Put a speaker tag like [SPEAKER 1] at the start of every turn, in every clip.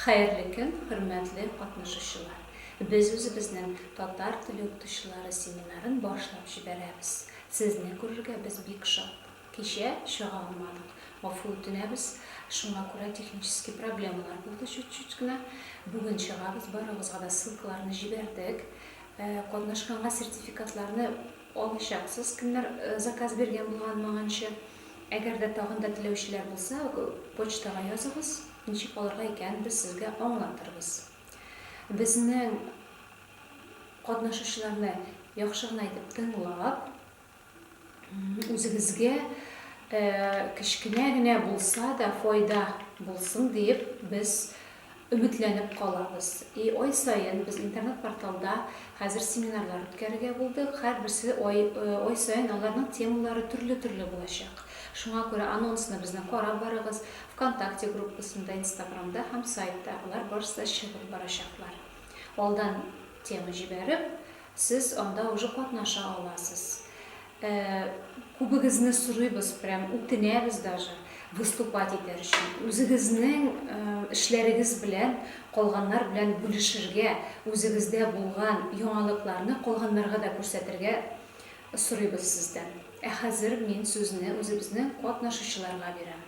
[SPEAKER 1] Хәерле көн, хөрмәтле катнашучылар! Без үзебезнең татар теле укытучылары семинарын башлап җибәрәбез. Сезне күрергә без бик шат. Кичә чыга алмадык, гафу үтенәбез, шуңа күрә технический проблемалар булды чуть-чуть кенә. Бүген чыгабыз, барыгызга да ссылкаларны җибәрдек. Катнашканга сертификатларны Алачаксыз, кемнәр заказ биргән булганмаганчы. Әгәр дә тагын да теләүчеләр булса, почтага языгыз, ничек алырга икәнен без сезгә аңлатырбыз. Безнең катнашучыларны яхшы гына итеп тыңлап, үзегезгә кечкенә генә булса да файда булсын диеп, без Өметләнеп калабыз. И ай саен без интернет-порталда хәзер семинарлар үткәрергә булдык. Һәрберсе ай ай саен аларның темалары төрле-төрле булачак. Шуңа күрә анонсны безнең карап барыгыз, Вконтакте группасында, Инстаграмда һәм сайтта алар барысы да чыгып барачаклар. Алдан тема җибәреп, Сез анда уже катнаша аласыз. Э, күбегезне сорыйбыз, прям үтенәбез даже выступать итәр өчен. Үзегезнең э, эшләрегез белән калганнар белән бүлешергә, үзегездә булган яңалыкларны калганнарга да күрсәтергә сорыйбыз сездән. Ә хәзер мин сүзне үзебезнең катнашучыларга бирәм.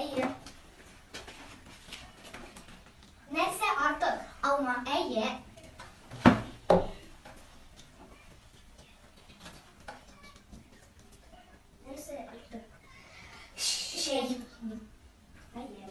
[SPEAKER 2] Әйе. Нәрсә артык? Алма. Әйе. Нәрсә артык? Шәй. Әйе.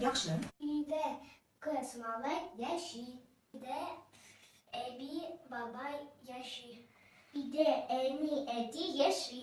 [SPEAKER 2] Яхшы.
[SPEAKER 3] Өйдә
[SPEAKER 2] кыз малай яши. Өйдә әби бабай яши. Өйдә әни әти яши.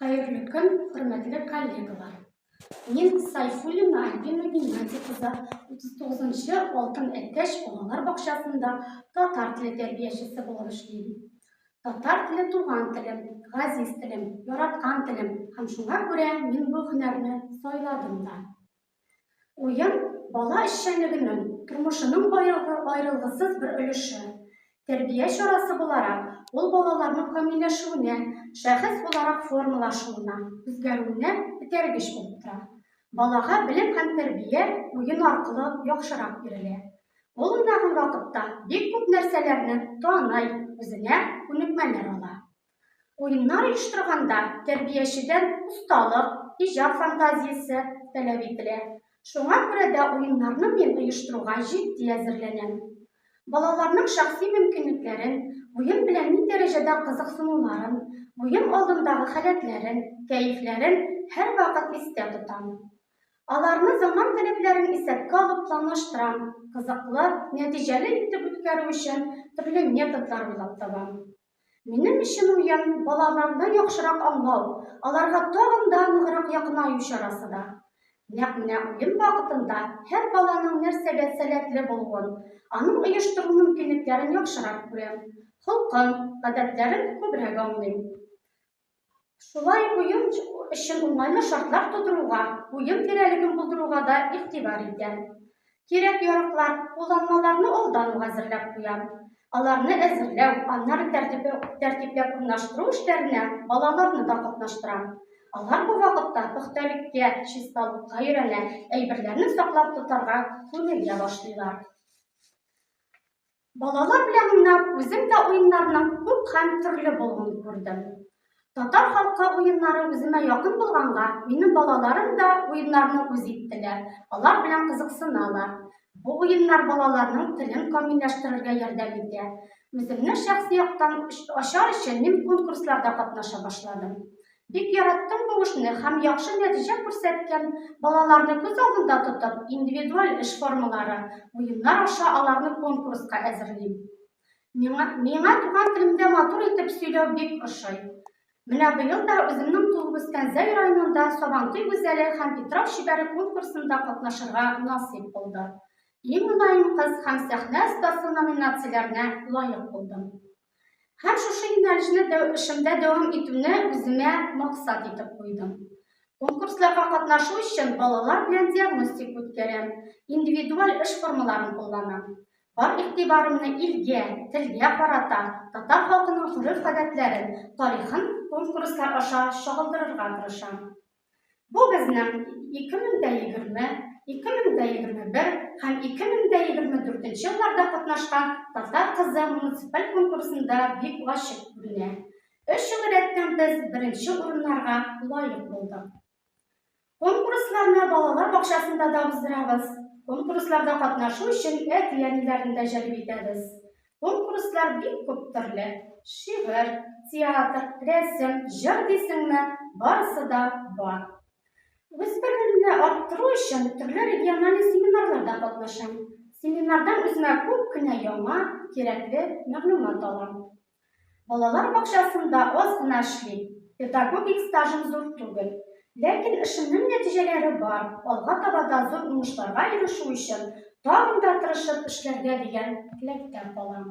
[SPEAKER 4] Хәерле көн, хөрмәтле коллегалар! Мин Сайфуллина Альбина Геннадий кызы 39-нчы Алтын әтәч балалар бакчасында татар теле тәрбиячесе булып эшлим. Татар теле туган телем, газиз телем, яраткан телем һәм шуңа күрә мин бу һөнәрне сайладым да. Уен, бала эшчәнлегенең, тормышының аерылгысыз бер өлеше. Тәрбия чарасы буларак, ул балаларның камилләшүенә, шәхес буларак формалашуына, үзгәрүенә этәргеч булып тора. Балага белем һәм тәрбия уен аркылы яхшырак бирелә. Ул уйнаган вакытта бик күп нәрсәләрне таный, үзенә күнекмәләр ала. Уеннар оештырганда тәрбиячедән осталык, иҗат фантазиясе таләп ителә. Шуңа күрә дә уеннарны мин оештыруга җитди әзерләнәм. Балаларның шәхси мөмкинлекләрен, уен белән ни дәрәҗәдә кызыксынуларын, уен алдындагы халәтләрен, кәефләрен һәрвакыт истә тотам. Аларны заман таләпләрен исәпкә алып планлаштырам, кызыклы, нәтиҗәле итеп үткәрү өчен төрле методлар уйлап табам. Минем өчен уен, балаларны яхшырак аңлау, аларга тагын да ныграк якынаю чарасы да. Нәкъ менә уен вакытында һәр баланың нәрсәгә сәләтле булуын, аның оештыру мөмкинлекләрен яхшырак күрәм, холкын, гадәтләрен күбрәк аңлыйм. Шулай ук уен өчен уңайлы шартлар тудыруга, уен тирәлеген булдыруга да игътибар итәм. Кирәк-яраклар, кулланмаларны алдан ук әзерләп куям. Аларны әзерләү, аннары тәртипләп урнаштыру эшләренә балаларны да катнаштырам. Алар бу вакытта пөхтәлеккә, чисталыкка өйрәнә, әйберләрне саклап тотарга күнегә башлыйлар. Балалар белән уйнап, үзем дә уеннарның күп һәм төрле булуын күрдем. Татар халкы уеннары үземә якын булганга, минем балаларым да уеннарны үз иттеләр, алар белән кызыксыналар. Бу уеннар балаларның телен камилләштерергә ярдәм итә. Үземне шәхси яктан ачар өчен мин конкурсларда катнаша башладым. Бик яраттым бу эшне һәм яхшы нәтиҗә күрсәткән балаларны күз алдында тотып, индивидуаль эш формалары, уеннар аша аларны конкурска әзерлим. Миңа, миңа туган телемдә матур итеп сөйләү бик ошый. Менә быел да үземнең туып үскән Зәй районында Сабантуй гүзәле һәм Питрау чибәре конкурсында катнашырга насыйп булды. Иң мөлаем кыз һәм сәхнә остасы номинацияләренә лаек булдым. Һәм шушы юнәлешне дә эшемдә дәвам итүне үземә максат итеп куйдым. Конкурсларга катнашу өчен балалар белән диагностик үткәрәм, индивидуаль эш формаларын кулланам. Бар игътибарымны илгә, телгә карата, татар халкының гореф-гадәтләрен, тарихын конкурслар аша чагылдырырга тырышам. Бу безнең 2020, 2021 һәм 2024 елларда катнашкан Татар кызы муниципаль конкурсында бик ачык күренә. Өч ел рәттән без беренче урыннарга лаек булдык. Конкурсларны балалар бакчасында да уздырабыз. Конкурсларда катнашу өчен әти-әниләрне дә җәлеп итәбез. Конкурслар бик күп төрле. Шигырь, театр, рәсем, җыр дисеңме, барысы да бар. Үз белемемне арттыру өчен төрле региональный семинарларда катнашам. Семинардан үземә күп кенә яңа, кирәкле мәгълүмат алам. Балалар бакчасында аз гына эшлим, педагогик стажым зур түгел. Ләкин эшемнең нәтиҗәләре бар, алга таба да зур уңышларга ирешү өчен тагын да тырышып эшләргә дигән теләктә калам.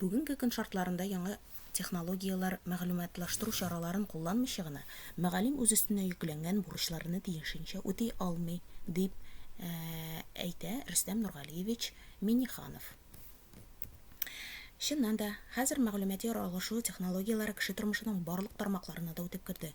[SPEAKER 5] Бүгенге көн шартларында яңа технологияләр, мәгълүматлаштыру чараларын кулланмыйча гына, мөгаллим үз өстенә йөкләнгән бурычларны тиешенчә үти алмый, дип әйтә Рөстәм Нургалиевич Миннеханов. Чыннан да, хәзер мәгълүмати-алышу технологияләре кеше тормышының барлык тармакларына да үтеп керде.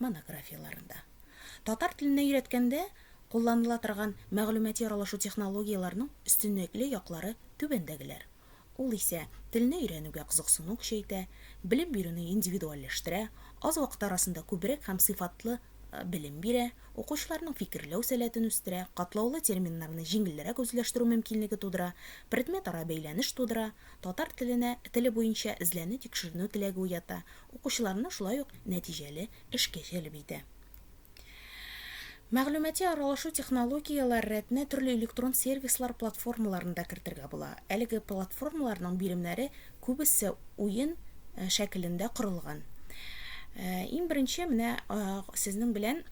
[SPEAKER 5] монографияләрендә. Татар теленә өйрәткәндә кулланыла торган мәгълүмати аралашу технологияләренең өстенлекле яклары түбәндәгеләр, ул исә телне өйрәнүгә кызыксыну көчәйтә, белем бирүне индивидуальләштерә, аз вакыт арасында күбрәк һәм сыйфатлы белем бирә, укучыларның фикерләү сәләтен үстерә, катлаулы терминнарны җиңелрәк үзләштерү мөмкинлеге тудыра, предметара бәйләнеш тудыра, татар теленә теле буенча эзләнү-тикшеренү теләге уята, Укучыларны шулай ук нәтиҗәле эшкә җәлеп итә. Мәгълүмати аралашу технологияләр рәтенә төрле электрон сервислар платформаларын да кертергә була. Әлеге платформаларның биремнәре күбесе уен шәкелендә корылган. Иң беренче менә сезнең белән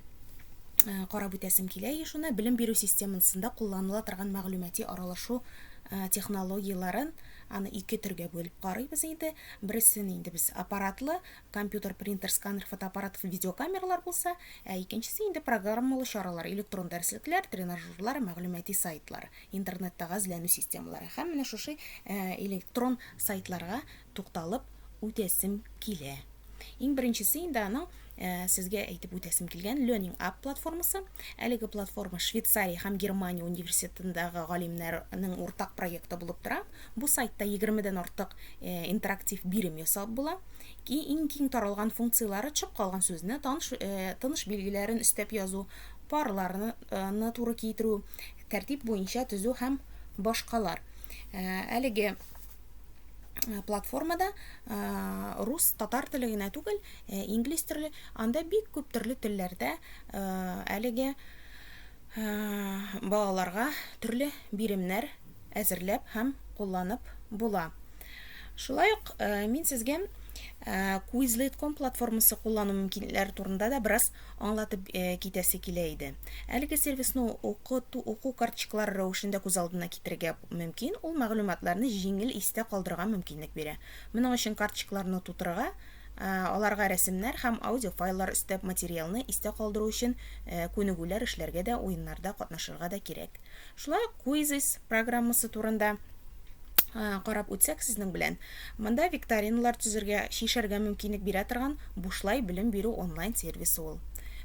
[SPEAKER 5] карап үтәсем килә ешуны белем бирү системасында кулланыла торган мәгълүмати аралашу технологияләрен аны ике төргә бүлеп карыйбыз инде. Бересен инде без аппаратлы, компьютер, принтер, сканер, фотоаппарат, видеокамералар булса, ә икенчесе инде программалы чаралар, электрон дәреслекләр, тренажерлар, мәгълүмати сайтлар, интернеттагы эзләнү системалары. Һәм менә шушы электрон сайтларга тукталып үтәсем килә. Иң беренчесе инде аның Ә, сезгә әйтеп үтәсем килгән Learning App платформасы. Әлеге платформа Швейцария һәм Германия университетындагы галимнәрнең уртак проекты булып тора. Бу сайтта 20-дән артык э, интерактив бирем ясап була. Ки- Иң киң таралган функцияләре төшеп калган сүзне таныш, э, тыныш билгеләрен өстәп язу, парларны э, ны туры китерү, тәртип буенча төзү һәм башкалар. Э, Әлеге Э, платформада э, рус татар теле генә түгел э, инглиз төрле анда бик күп төрле телләрдә әлеге балаларга төрле биремнәр әзерләп һәм кулланып була шулай ук мин сезгә quizlet.com платформасы куллану мөмкинлекләре турында да бераз Аңлатып китәсе килә иде. Әлеге сервисны укыту, уку карточкалары рәвешендә күз алдына китерергә мөмкин, ул мәгълүматларны җиңел истә калдырырга мөмкинлек бирә. Моның өчен карточкаларны тутырырга, аларга рәсемнәр һәм аудиофайллар өстәп, материалны истә калдыру өчен күнегүләр эшләргә дә, уеннарда катнашырга да кирәк. Шулай ук Quizzes программасы турында карап үтсәк сезнең белән. Монда викториналар төзергә, чишәргә мөмкинлек бирә торган бушлай белем бирү онлайн сервисы ул.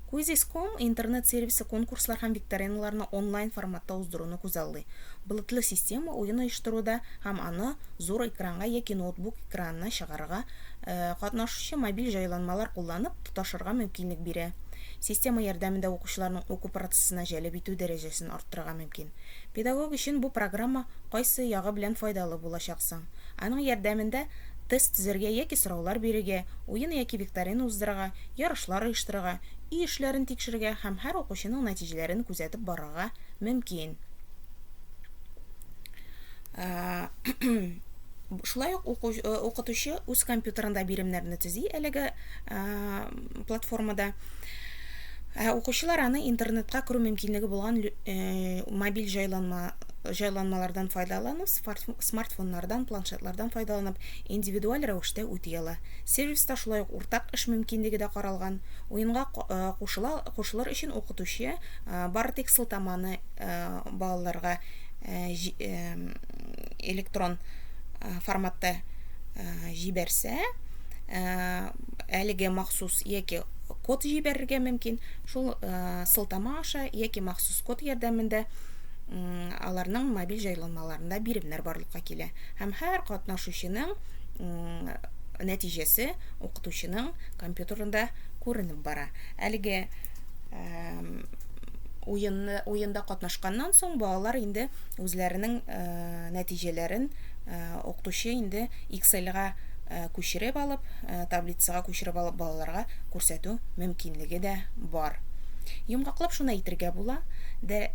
[SPEAKER 5] Quizzes.com интернет сервисы конкурслар һәм викториналарны онлайн форматта уздыруны күзаллый. Болытлы система уен оештыруда һәм аны зур экранга яки ноутбук экранына чыгарырга, катнашучы мобиль җайланмалар кулланып тоташырга мөмкинлек бирә. Система ярдәмендә укучыларның уку процессына җәлеп итү дәрәҗәсе дәрәҗәсен арттырырга мөмкин. Педагог өчен бу программа кайсы ягы белән файдалы булачак соң? Аның ярдәмендә тест төзәргә яки сораулар бирергә, уен яки викторина уздырырга, ярышлар оештырырга, өй эшләрен тикшерергә һәм һәр укучының нәтиҗәләрен күзәтеп барырга мөмкин. Шулай ук укытучы үз компьютерында биремнәрне төзи, әлеге платформада. Ә укучылар аны интернетка керү мөмкинлеге булган мобиль җайланма җайланмалардан файдаланып, смартфоннардан, планшетлардан файдаланып, индивидуаль рәвештә үти ала. Сервиста шулай ук уртак эш мөмкинлеге дә каралган. Уенга кушыла кушылыр өчен укытучы бары тик сылтаманы балаларга электрон форматта җибәрсә, ә, әлеге махсус яки код җибәрергә мөмкин. Шул ә, сылтама аша яки махсус код ярдәмендә аларның мобиль җайланмаларында биремнәр барлыкка килә һәм һәр катнашучының нәтиҗәсе укытучының компьютерында күренеп бара. Әлеге уенны уенда катнашканнан соң балалар инде үзләренең нәтиҗәләрен укытучы инде Эксельга күчереп алып, таблицага күчереп алып балаларга күрсәтү мөмкинлеге дә бар. Йомгаклап шуны әйтергә була, дә,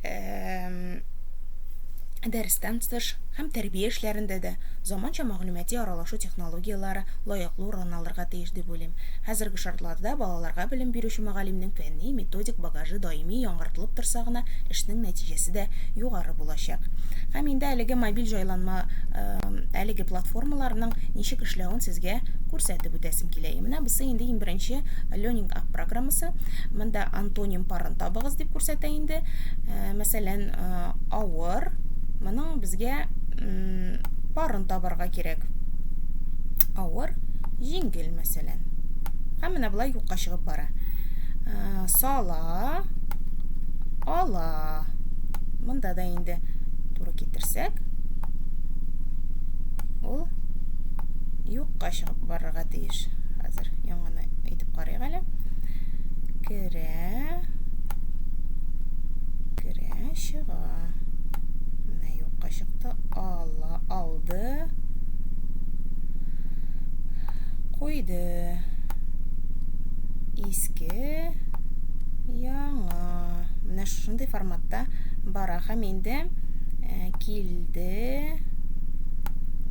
[SPEAKER 5] дәрестән тыш һәм тәрбия эшләрендә дә заманча мәгълүмати аралашу технологияләре лаеклы урын алырга тиеш. дип уйлыйм. Хәзерге шартларда балаларга белем бирүче мөгаллимнең фәнни, методик багажы даими яңартылып торса гына, эшнең нәтиҗәсе дә югары булачак. Һәм инде әлеге мобиль җайланма, әлеге платформаларның ничек эшләвен сезгә күрсәтеп үтәсем килә. И менә бусы инде иң беренче Learning App программасы. Монда антоним парын табыгыз дип күрсәтә инде. Мәсәлән, авыр, моның безгә парын табарга кирәк. Авыр, Җиңел, мәсәлән. Һәм менә болай юкка чыгып бара. Ә, сала, ала. Монда да инде туры китерсәк, ул юкка чыгып барырга тиеш. Хәзер яңаны әйтеп карыйк әле. Керә, керә, чыга. Менә юкка чыкты, ала, алды. Куйды. Иске, яңа. Менә шушындый форматта бара. Һәм инде э, килде,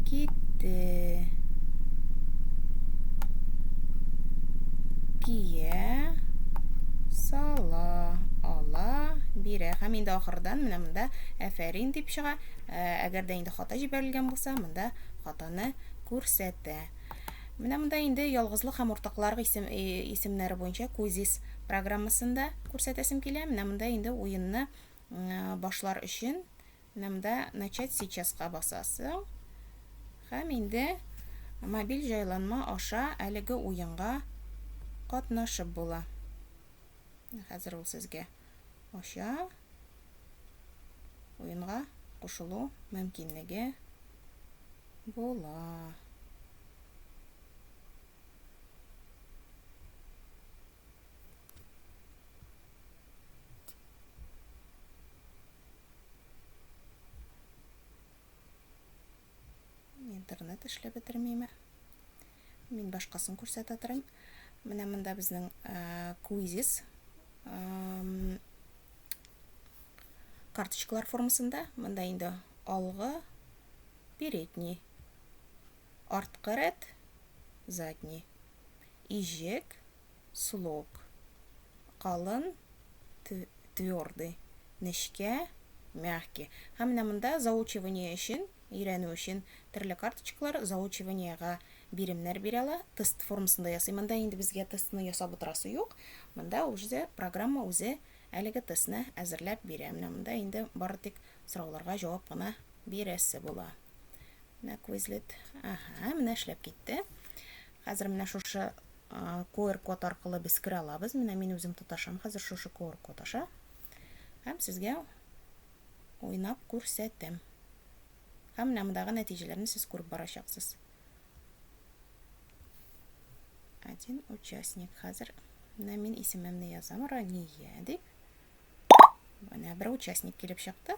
[SPEAKER 5] китте. Кия, сала, ала, бирә. Һәм инде ахырдан менә монда әфәрин дип чыга. Э, әгәр дә инде хата җибәрелгән булса, монда Хатыны күрсәтә. Менә монда инде ялгызлык һәм уртакларык исем, исемнәре буенча кузис программасында күрсәтәсем килә. Менә монда инде уенны башлар өчен менә монда начать сейчаска басасың һәм инде мобиль җайланма аша әлеге уенга катнашып була. Хәзер ул сезгә ача, уенга кушылу мөмкинлеге була. Интернет эшләп бетермиме? Мин башкасын күрсәтә торам. Менә монда безнең э, квизис карточкалар формасында. Монда инде алгы, передний, арткы рәт, задний, ижек, слог, калын, твердый, нечкә, мягкий. Һәм менә монда заучивание өчен, өйрәнү өчен төрле карточкалар, заучиваниега биремнәр бирә ала. Тест формасында ясый. Монда инде безгә тестны ясап утырасы юк. Монда үзе программа үзе әлеге тестны әзерләп бирә. Менә монда инде бары тик сорауларга җавап кына бирәсе була. Менә Quizlet. Ага, менә эшләп китте. Хәзер менә шушы QR код аркылы без керә алабыз. Менә мин үзем тоташам хәзер шушы QR код аша. Һәм сезгә уйнап күрсәтәм. Һәм менә мондагы нәтиҗәләрне сез күреп барачаксыз. Один участник. Хәзер менә мин исемемне язам, Рания дип. Менә бер участник килеп чыкты.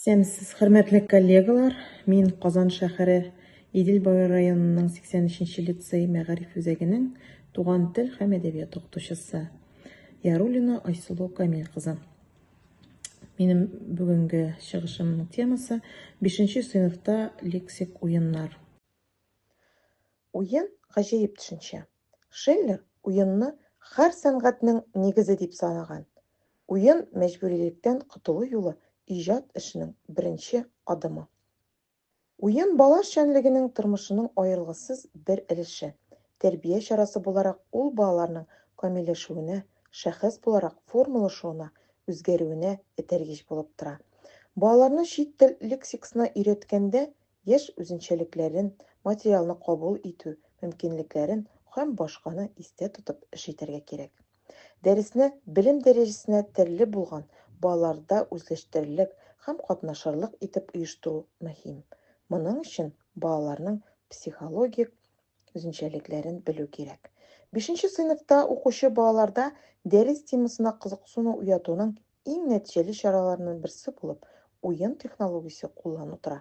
[SPEAKER 6] Исәнмесез, хөрмәтле коллегалар. Мин Казан шәһәре Идел Буе районының 83-нче лицей мәгариф үзәгенең туган тел һәм әдәбият укытучысы Ярулина Айсылу Камил кызы. Минем бүгенге чыгышымның темасы 5-нче сыйныфта лексик уеннар. Уен гаҗәеп төшенчә. Шиллер уенны хәр сәнгатьнең нигезе дип санаган. Уен мәҗбүрилектән котылу юлы иҗат эшенең беренче адымы. Уен бала эшчәнлегенең тормышының аерылгысыз бер өлеше, тәрбия чарасы буларак ул балаларның камилләшүенә, шәхес буларак формалашуына, үзгәрүенә этәргеч булып тора. Балаларны чит тел лексиксына өйрәткәндә яшь үзенчәлекләрен, материалны кабул итү мөмкинлекләрен һәм башканы истә тотып эш итәргә кирәк. Дәресне белем дәрәҗәсенә терле булган балаларда үзләштерерлек һәм катнашырлык итеп оештыру мөһим. Моның өчен балаларның психологик үзенчәлекләрен белү кирәк. Бишенче сыйныфта укучы балаларда дәрес темасына кызыксыну уятуның Иң нәтиҗәле чараларның берсе булып уен технологиясе куллану тора.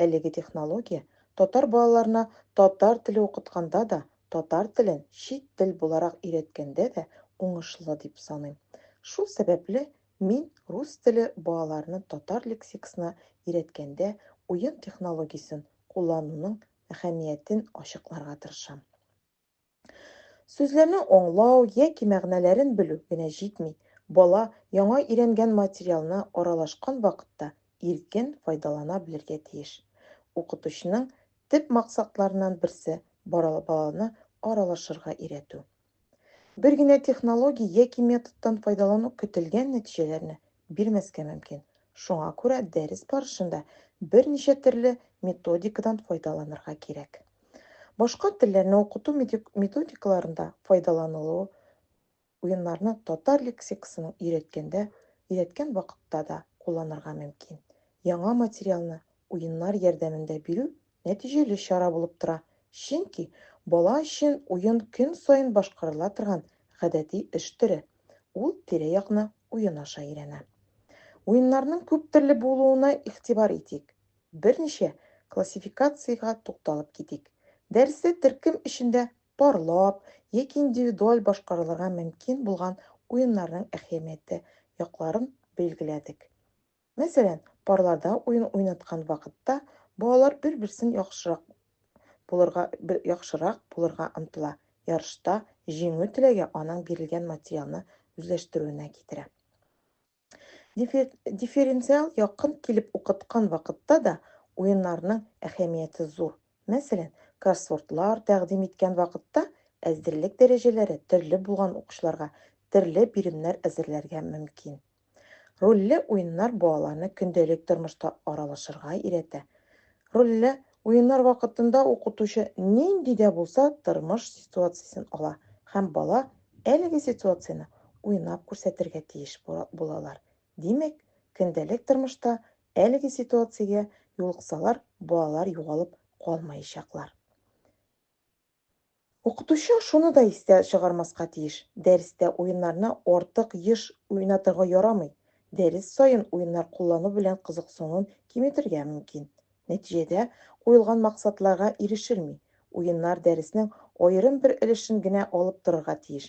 [SPEAKER 6] Әлеге технология татар балаларына татар теле укытканда да, татар телен чит тел буларак өйрәткәндә дә уңышлы дип саныйм. Шул сәбәпле, мин рус теле балаларны татар лексиксына өйрәткәндә уен технологиясен куллануның әһәмиятен ачыкларга тырышам. Сүзләрне аңлау яки мәгънәләрен белү генә җитми, бала яңа өйрәнгән материалны аралашкан вакытта иркен файдалана белергә тиеш. Укытучының төп максатларыннан берсе, баланы аралашырга өйрәтү. Бер генә технология яки методтан файдалану көтелгән нәтиҗәләрне бирмәскә мөмкин, шуңа күрә дәрес барышында берничә төрле методикадан файдаланырга кирәк. Башка телләрне укыту методикаларында файдаланылу уеннарны татар лексикасының өйрәткәндә, өйрәткән вакытта да кулланырга мөмкин. Яңа материалны уеннар ярдәмендә бирү нәтиҗәле чара булып тора, чөнки бала өчен уен көн саен башкарыла торган гадәти эш төре, ул тирә-якны уен аша өйрәнә. Уеннарның күптөрле булуына игътибар итик. Берничә классификациягә тукталып китик. Дәрестә төркем эчендә парлап яки индивидуаль башкарылырга мөмкин булган уеннарның әһәмиятле якларын билгеләдек. Мәсәлән, парларда уен уйнаткан вакытта балалар бер-берсен яхшырак булырга яхшырак булырга омтыла, ярышта җиңү теләге аның бирелгән материалны үзләштерүенә китерә. Дифференциал якын килеп укыткан вакытта да уеннарның әһәмияте зур. Мәсәлән, кроссвордлар тәкъдим иткән вакытта әзерлек дәрәҗәләре төрле булган укучыларга төрле биремнәр әзерләргә мөмкин. Рольле уеннар балаларны көндәлек тормышта аралашырга өйрәтә. Рольле уеннар вакытында укытучы нинди дә булса тормыш ситуациясен ала һәм бала әлеге ситуацияне уйнап күрсәтергә тиеш булалар. Димәк, көндәлек тормышта әлеге ситуациягә юлыксалар, балалар югалып калмаячаклар. Укытучы шуны да истә чыгармаска тиеш, дәрестә уеннарны артык еш уйнатырга ярамый, дәрес саен уеннар куллану белән кызыксынуын киметергә мөмкин. Нәтиҗәдә куелган максатларга ирешелми, уеннар дәреснең аерым бер өлешен генә алып торырга тиеш,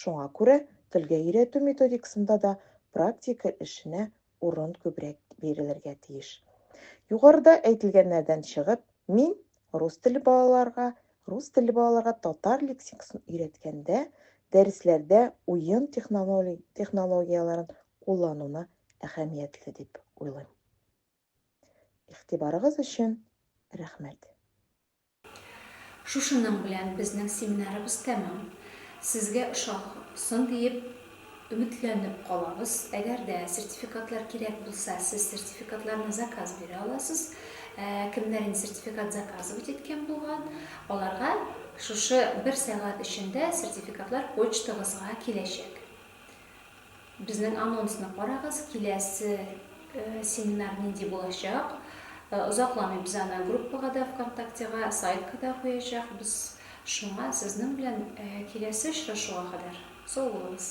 [SPEAKER 6] Шуңа күрә телгә өйрәтү методикасында да практика эшенә урын күбрәк бирелергә тиеш. Югарыда әйтелгәннәрдән чыгып, мин рус теле балаларга, рус телле балаларга татар лексикасын өйрәткәндә, дәресләрдә уен технологияләрен куллануны әһәмиятле дип уйлыйм. Игътибарыгыз өчен рәхмәт.
[SPEAKER 1] Шушының белән безнең семинарыбыз тәмам. Сезгә ошасын диеп өметләнеп калабыз. Әгәр дә сертификатлар кирәк булса, сез сертификатларны заказ бирә аласыз. Ә кемнәр инде сертификат заказывать иткән булган, аларга шушы бер сәгать эчендә сертификатлар почтагызга киләчәк. Безнең анонсны карагыз, киләсе семинар нинди булачак. Озакламый без аны группага да ВКонтактега, сайтка да куячакбыз. Шуңа сезнең белән киләсе очрашуга кадәр сау булыгыз!